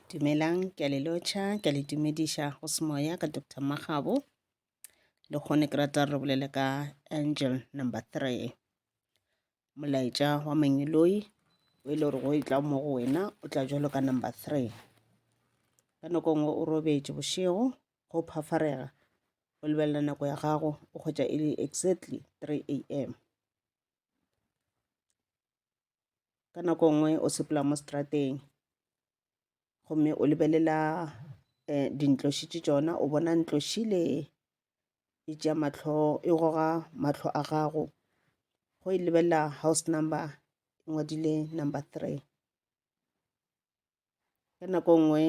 Dumelang, ke a le lotšha, ke a le dumediša go semoya ka Doctor Magabo. Le kgone ke rata re bolele ka angel number three. Molaetša wa mangiloi o e le gore go e tla mo go wena o tla jalo ka number three. Ka nako nngwe o robetše bošego go phafarega o lebelela nako ya gago o kgwetša e le exactly three a m. ka nako nngwe o sepela mo strateng gomme o lebelela um dintloši tše tšona o bona ntloši le e tšea mahlo e goga mahlo a gago go e lebelela house number e ngwadile number three. ka nako nngwe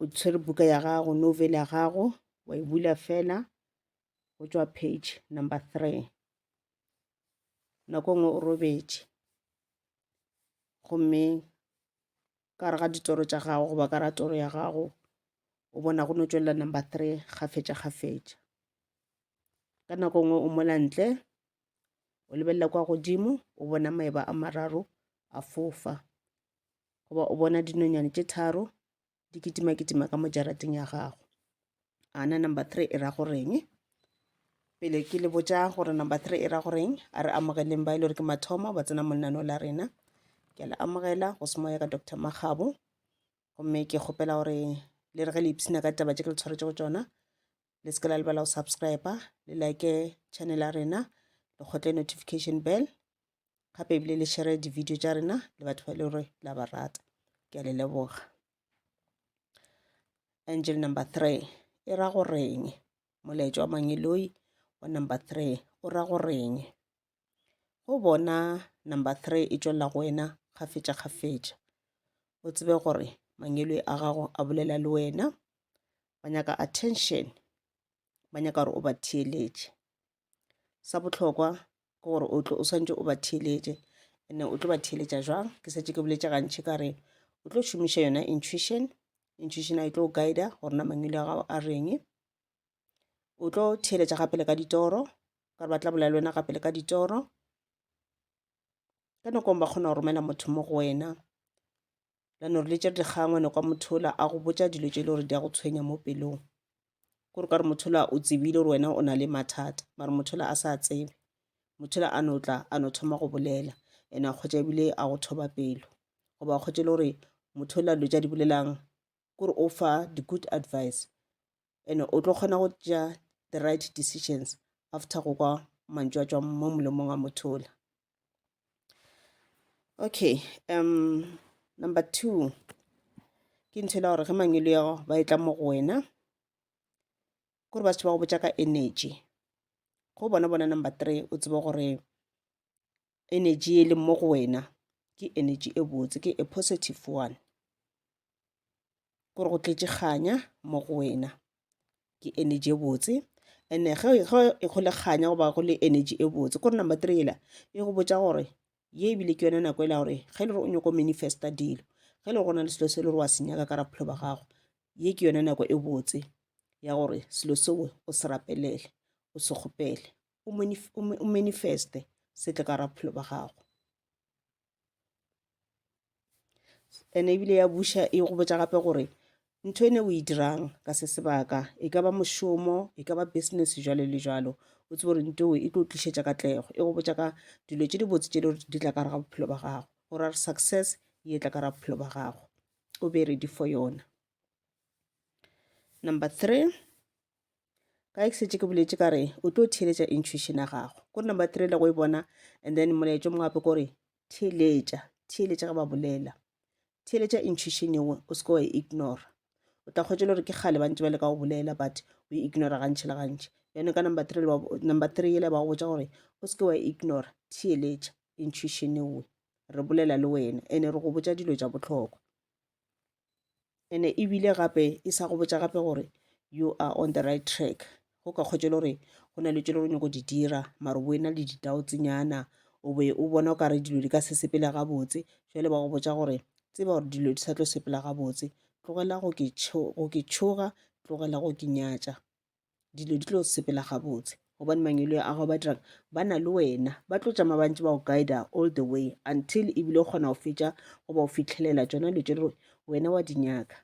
o tshwere buka ya gago novel ya gago wa e bula fela go tšwa page number three nako nngwe o robetše gomme ka re ga ditoro tša gago goba ka ra toro ya gago o bona go no tšwelela number three kgafetša kgafetša ka nako nngwe o mola ntle o lebelela kwa godimo o bona maeba a mararo a fofa goba o bona dinonyane tše tharo di kitimakitima ka mo jarateng ya gago ana number three e ra goreng pele ke le botša gore number three e ra goreng a re amogeleng ba e le gore ke mathomo ba tsena monano la rena ke a le amogela go se moya ka doctor magabo gomme ke kgopela gore le re ge le ipshina ka taba tše ke le tshwaretse go tsona le se ke la lebala go subscribe le like channel ya rena le kgotle notification bell gape ebile le share di-video tša rena le batho ba e le gore la ba rata ke a le leboga angel number three e ra go reng molaetša wa mangeloi wa number three o ra go reng go bona number three e tšwelela go wena kgafetša-kgafetša o tsebe gore mangwelwe a gago a bolela le wena ba nyaka attention ba nyaka gore o ba theeletše sa bohlokwa ke gore o tlo o swantse o ba theeletše and o tlo ba theeletša jwang ke setse ke boletše gantši ka re o tlo šomiša yona intuition intuition a e tlo guida gore na mangwele a gago a reng o tlo theeletša gape le ka ditoro ka gore ba tla bolela le wena gape le ka ditoro ka nakong ba kgona go romela motho mo go wena lano re letse re dikgangwe no kwa mothola a go botsa dilo tse e le gore di a go tshwenya mo pelong kore ka re mothola o tsebile gore wena o na le mathata mare mothola a sa tsebe mothola a no tla a no thoma go bolela ene a kgwetsa ebile a go thoba pelo goba a kgwetse le gore mothola dilo tsa di bolelang kore o fa di-good advice and o tlo kgona go tšea the right decisions after go kwa mantšu a tšwang mo molomong a motho ola okay um number two ke ntho ela gore ge mangwelo ya gago ba e tla mo go wena kore ba setho ba go botša ka energy go bona bona number three o tsebe gore energy e leng mo go wena ke energy e botse ke a positive one gore go tletše kganya mo go wena ke energy e botse ene ge e go le kganya goba go le energy e botse kore number three ela e go botsa gore ye ebile ke yone nako e la gore ge e le gore o nyako manifesta dilo ge e le go na le selo se e le gore wa se nyaka ka raphelo ba gago ye ke yone nako e botse ya gore selo seo o se rapelele o se kgopele o manifeste setle ka ra bophelo ba gago and ebile ya buša e go botsa gape gore ntho e ne o e dirang ka se sebaka e ka ba mošomo e ka ba business jalo le jalo o tsebe gore ntho e tlo tlišetša katlego e go botsa ka dilo tše di botse tše di di tla ka re ga bophelo ba gago gore a re success e tla ka ra bophelo ba gago o be ready for yona number three ka ke setse ke boletse ka re o tlo theeletša intuition ya gago kore number three le go e bona and then molaetso mongwe gape kore theeletša theeletša ge ba bolela theeletša intuition ewe o seke wa e ignora o tla kgwetsa le gore ke kgale ba ntse ba le ka go bolela but o e ignora gantšhi le gantšhi yone ka number three number three ele ba go botsa gore o seke wa e ignora theeletša intuition ewe re bolela le wena ene re go botsa dilo tša bohlokwa ene ebile gape e sa go botša gape gore you are on the right track go ka kgwetše le gore go na le tšelo go nyako di dira mare bo ena le ditao tsenyana o be o bona o ka re dilo di ka se sepele gabotse jale ba go botša gore tseba gore dilo di sa tlo sepela gabotse tlogela go ke tšhoga tlogela go ke nyatša dilo di tlo sepela gabotse gobane mangelo a gago ba dirang ba na le wena ba tlo tšama bantse ba go guida all the way until ebile o kgona go fetša goba o fitlhelela tsona dilo tše wena wa di nyaka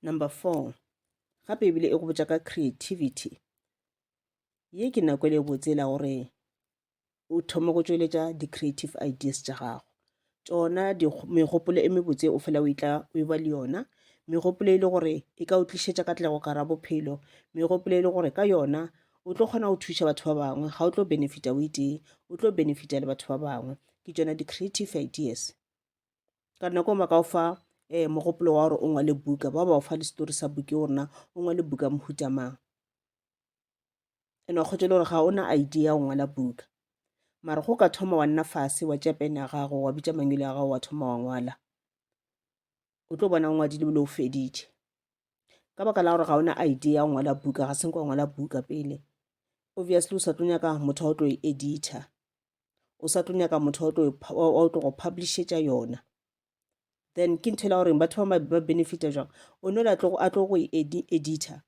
number four gape ebile e go botša ka creativity ye ke nako e le botsela gore o thoma go tšweletša di-creative ideas tša gago tšona megopolo e mebotse o fela o itla o e ba le yona megopolo e le gore e ka o tlišetša katlego ka ra bophelo megopolo e le gore ka yona o tlo kgona go thuša batho ba bangwe ga o tlo benefita o itee o tlo benefita le batho ba bangwe ke tšona di-creative ideas ka nako ma ka o fa um mogopolo wa gore o ngwale buka ba ba o fa le setori sa buke o rena o ngwale buka mohutamang ene wa kgotšele gore ga o na idea ya go ngwala buka mara go ka thoma wa nna fase wa tšea pene ya gago wa bitša mangwele ya gago wa thoma wa ngwala o tlo bona o ngwadile bile o feditše ka baka la gore ga o na idea ya go ngwala buka ga senko wa ngwala buka pele obviously o sa tlo nyaka motho wa o tlo e edita o sa tlo nyaka motho wa o tlo go publishetša yona then ke ntho e la goreng batho ba mabe ba benefita jwang o no la tlogo a tlo go e edita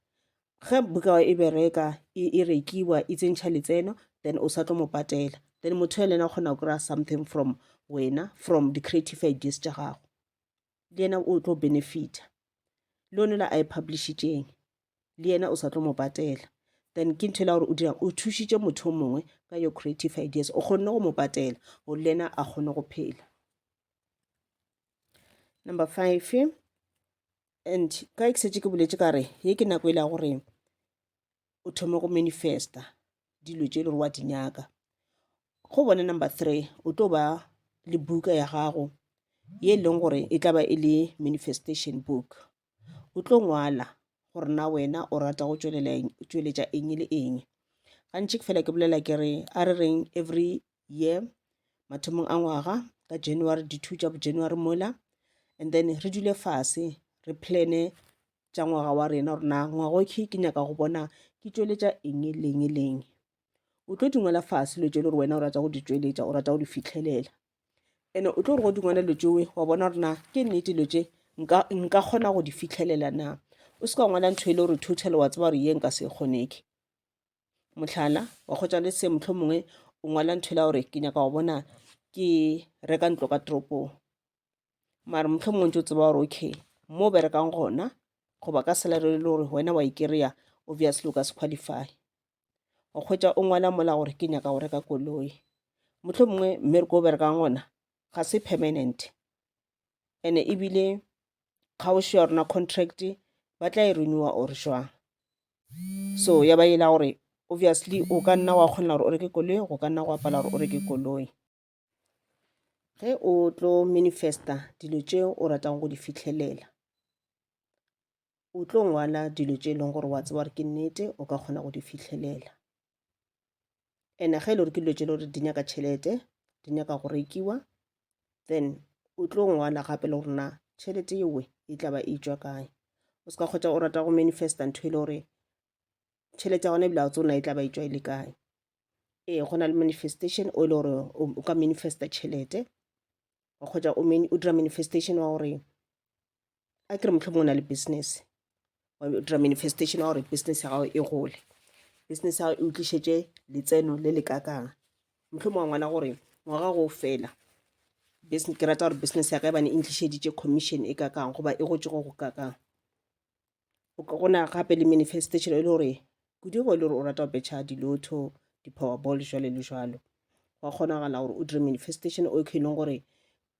ge buka e bereka e, e rekiwa e tsentšha letseno then o sa tlo mo patela then motho ya lena o kgona go kry-a something from wena from di-creative ideas tša gago le yena o tlo benefita le one la a e publishitšeng le yena o sa tlo mo patela then ke ntho e la gore o dirang o thušitše motho o mongwe ka your creative ideas o kgonne go mo patela gore le yena a kgone go phela number five and ka e ke setse ke boletse ka re ye ke nako e la gore o thome go manifesta dilo tše e le gore wa di nyaka go bone number three o tlo ba le buka ya gago ye e leng gore e tla ba e le manifestation book o tlo ngwala gore na wena o rata go tšweletša eng le eng gantši ke fela ke bolela ke re a re reng every year mathomong a ngwaga ka january di-two tša bojanuary mola and then re dule fase re plane tša ngwaga wa rena gore na ngwaga oke ke nyaka go bona ke tšweletša eng leng leng o tlo di ngwala fase dilo tše le gore wena o rata go di tšweletša o rata go di fitlhelela ene o tlo re go dingwana dilo tšewe wa bona gore na ke nnete dilo tše nka kgona go di fitlhelela na o se ka ngwala ntho e le gore total wa tseba gore ye nka se e kgoneke mohlala wa kgotsa le se motlho mongwe o ngwala ntho e la gore ke nyaka go bona ke reka ntlo ka toropong mare motlho mongwe ntse o tseba gore okay mo berekang gona goba ka salary e le gore wena wa e kry-a obviously o ka se qualify o kgwetša o ngwala mola gore ke nyaka go reka koloi motlho mongwe mmereko o berekang gona ga se permanent ene ebile kgaošo ya rona contract ba tla e renewa or jwang so ya ba e la gore obviously o ka nna wa kgona gore o reke koloi go ka nna go apala gore o reke koloi ge o tlo manifesta dilo tše o ratago go di fitlhelela o tlo ngwala dilo tše e leng gore wa tseba gore ke nnete o ka kgona go di fitlhelela ene ge e le gore ke dilo tše e le gore di nyaka tšhelete di nyaka go rekiwa then o tlo ngwala gape le gore na tšhelete yewe e tla ba e tšwa kae o se ka kgotsa o rata go manifesta ntho e le gore tšhelete ya gona ebile a tsona e tla ba e tšwa e le kae ee go na le manifestation o e le gore o ka manifesta tšhelete wa kgotsa o dira manifestation wa gore a kere motlho mongwe na le business wa dira manifestation wa gore business ya gago e gole business ya gago e utlišetše letseno le le kakang motlho mongwe ngwana gore ngwaga go fela ke rata gore business ya ka e bane e ntlišeditše commission e kakang goba e gotse go go kakang O ka gona gape le manifestation e le gore kudu go e le gore o rata go betšha dilotho di-powerball jwale le jwalo gwa kgonagala gore o dire manifestation o ke e leng gore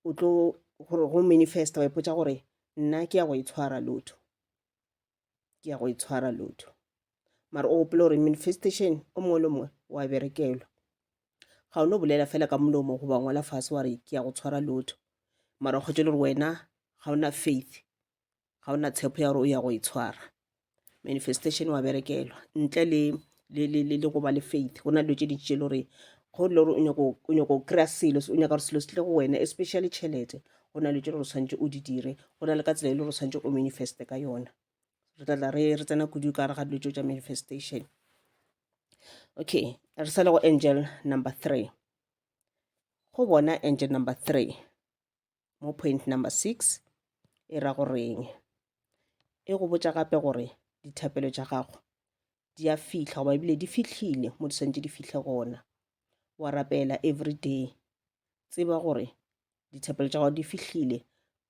o tlo gore go manifesta wa ipotsa gore nna ke ya go itshwara e lotho ke ya go itshwara e lotho mara o gopole gore manifestation o mongwe le mongwe wa berekelwa ga o no bolela fela ka molomo goba ngwala fase wa re ke ya go tshwara e lotho mara o kgwetse le gore wena ga o na faith ga o na tshepo ya gore o ya go e tshwara manifestation wa berekelwa ntle le le le le le go ba le faith go na dilo tše dintši tše le gore go le gore o nyako o nyako o kry-a selo o nyaka gore selo se tle go wena especially tšhelete go na le tše le gore o tshwanetse o di dire go na le ka tsela e le gore o tshwanetse o manifeste ka yona re tla tla re re tsena kudu ka gare ga dilo tšeo tša manifestation okay re sale go angel number three go bona angel number three mo point number six e ra goreng e go botša gape gore dithapelo tša gago di a fihla goba ebile di fihlile mo di swantse di fihle gona wa rapela every day tseba gore dithapelo tša gago di fihlile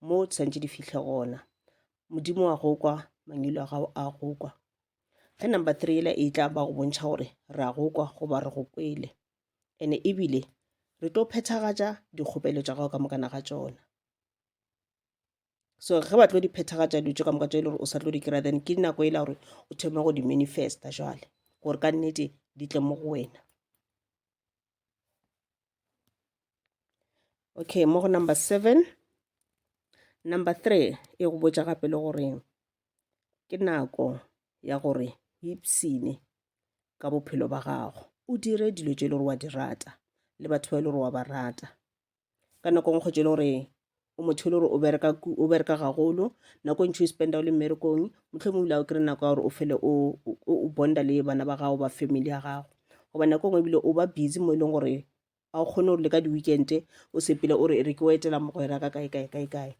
mo di swantse di fihle gona modimo wa go kwa mangelo a gago a go kwa ge number three ela e tla ba go bontšha gore re a go kwa goba re go kwele ene ebile re tlo phethagatša dikgopelo tša gago ka mokana ga tšona so ge ba tlo di phethagatša dilo tše ka moka tše e le gore o sa tlo di kry-a then ke nako e la gore o thome go di manifesta jale gore ka nnete di tle mo go wena okay mo go number seven number three e go botša gape le goreng ke nako ya gore o ipshine ka bophelo ba gago o dire dilo tše e le gore wa di rata le batho ba e le gore wa ba rata ka nako ngwe kgotse e le gore o motho e le gore o bereka o bereka gagolo nako e ntšhi o spenda o le mmerekong motlhomong ebile o kry nako ya gore o fele o bonda le bana ba gago ba family ya gago goba nako ngwe ebile o ba busy mo e leng gore ga o kgone gore le ka di-weekente o sepele o re e re ke o etela mogwera ka kae kae kae kae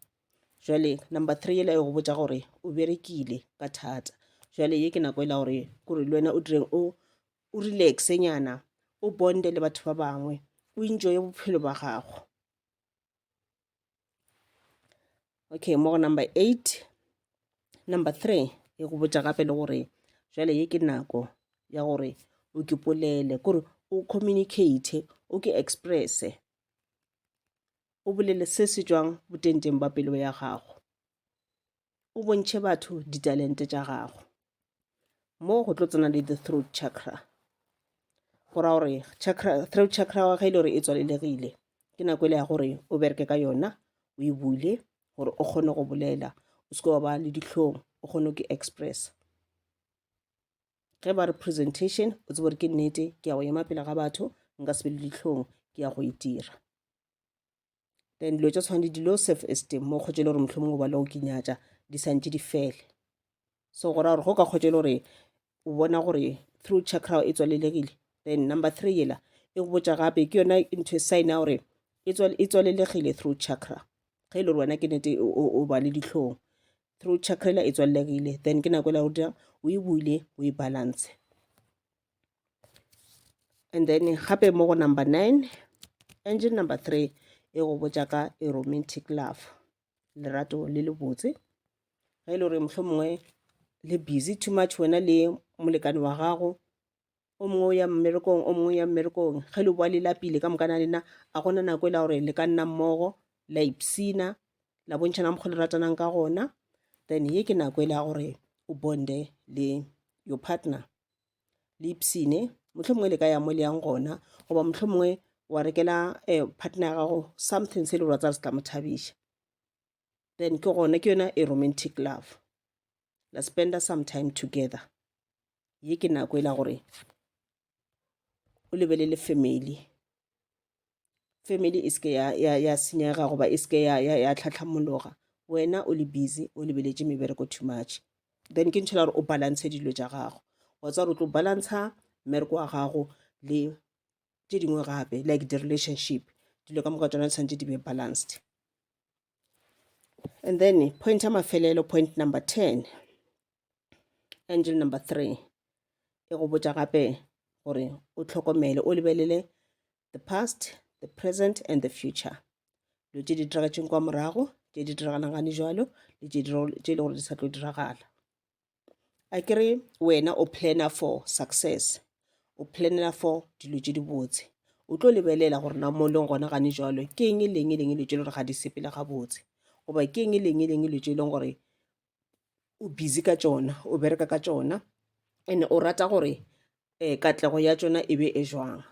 jale number three ele go botsa gore o berekile ka thata jale ye ke nako e la gore kore le wena o direng o o relaxe nyana o bonde le batho ba bangwe o enjoye bophelo ba gago okay mo go number eight number three e go botša gape le gore jale ye ke nako ya gore o ke polele kore o communicate o ke expresse o bolele se se jwang botenteng ba pelo ya gago o bontšhe batho ditalente tša gago moo go tlo tsena le the throat chakra go ra gore throat chakra wa ge e le gore e tswalelegile ke nako e le ya gore o bereke ka yona o e bule gore o kgone go bolela o seke wa ba le ditlhong o kgone go express ge ba re presentation o tsebo gore ke nnete ke ya go ema pele ga batho nka se be le ditlhong ke ya go itira e then dilo tša tshwana le di-low self esteem mo kgotse e le gore motlho mongwe ba le go kinyatša di santse di fele so go raya gore go ka kgotse e le gore o bona gore through chakra e tswalelegile then number three yela e go botša gape ke yona into e sign ya gore e tswalelegile through chakra ge e le gore wena ke nete o ba le ditlhong through chakra ela e tswalelegile then ke nako ela o dira o e buile o e balance and then gape mo go number nine engine number three e go botša ka a romantic love lerato le le botse ge e le gore mohlho mongwe le busy too much wena le molekane wa gago o mongwe o ya mmerekong o mongwe ya mmerekong ge le boa le lapile ka mokana lena a gona nako e la gore le ka nna mmogo la ipsina la bontšhana mokgwa le ratanang ka gona then ye ke nako e le ya gore o bonde le your partner le ipsene motlho mongwe le ka ya mo le yang gona goba motlho mongwe wa rekela um partner ya gago something se le gore wa tsaya se tla mo thabiša then ke gona ke yona e romantic love la spenda some time together ye ke nako e la gore o lebelele family family e seke ya, ya, ya senyega goba e seke ya, ya, ya tlhatlhamologa wena o le busy o lebeletše mebereko too much then ke ntšhela gore o balance dilo tša gago wa tsa gore o tlo balantsha mmereko wa gago le tše dingwe gape like di-relationship dilo ka moka tsona tshwanetse di be balanced and then point ya mafelelo point number ten angel number three e go botsa gape gore o tlhokomele o lebelele the past, the present and the future. Lo tše di diragatšeng kwa morago, tše di diragalang gane jalo, le tše e le gore di sa tlo diragala. A ke re wena o planner for success, o planner for dilo tše di botse. O tlo lebelela gore na mo leng gona gane jalo, ke eng e leng e leng e lo tše le gore ga di sepele gabotse. Goba ke eng e leng e leng e lo tše e leng gore o busy ka tšona o bereka ka tšona and o rata gore um katlego ya tšona e be e jwang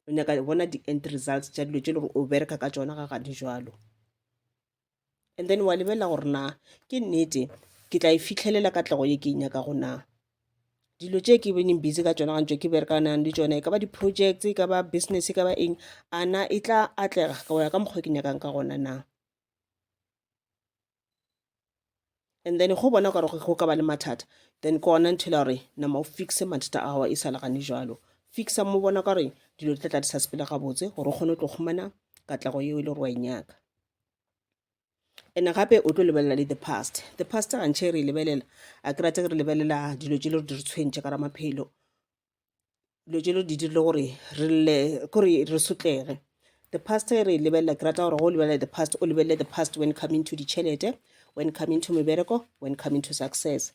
o nyaka bona di-end results tša dilo tše le gore o bereka ka tšona ga gadi jalo and then wa lebelela gore na ke nnete ke tla e fitlhelela katlego ye ke e nyaka go na dilo tše ke bening busy ka tšona gantšo ke berekanang le tšona e ka ba di-projects e ka ba business e ka ba eng ana e tla atlega ka go ya ka mokgwa ke nyakang ka gona na and then go bona gore go ka ba le mathata then ke ona ntho e la gore nama o fixe mathata a gago e sa legane jalo fixa mo bona ka gore dilo di tla tla di sa sepele gabotse gore o kgone go tlo humana katlego yeo e le gore wa e nyaka and gape o tlo lebelela le the past the past gantšhe re e lebelela a ke rate re lebelela dilo tse le gore di re tshwentše ka ramaphelo dilo tše lo di dirile gore re lle kore re sotlege the past e re e lebelela ke rata gore go o lebelela the past o lebelele the past when coming to ditšhelete when coming to mebereko when coming to success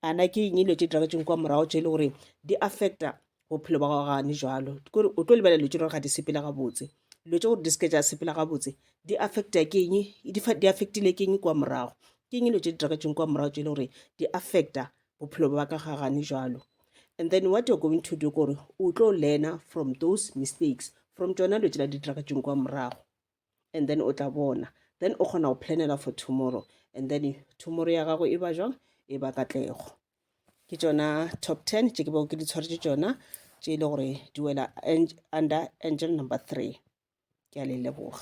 ana ke eng dilo tše di raketseng kwa morago tše e le gore di affecta bophelo ba gago gane jalo kore o tlo lebelela dilo tše gore ga di sepela gabotse dilo tše gore di seke tša sepela gabotse di affecta ke eng di affectile ke eng kwa morago ke eng dilo tše di raketseng kwa morago tše e le gore di affecta bophelo ba ka ga gane jalo and then what you're going to do kore o tlo learner from those mistakes from tsona lo tšela ditracatšong kwa morago and then o tla bona then o kgona go planela for tomorrow and then tomorrow ya gago e ba jwang e ba katlego ke tsona top ten tše ke bego ke di tshwaretse tsona tše e le gore di wela under angel number three ke a le leboga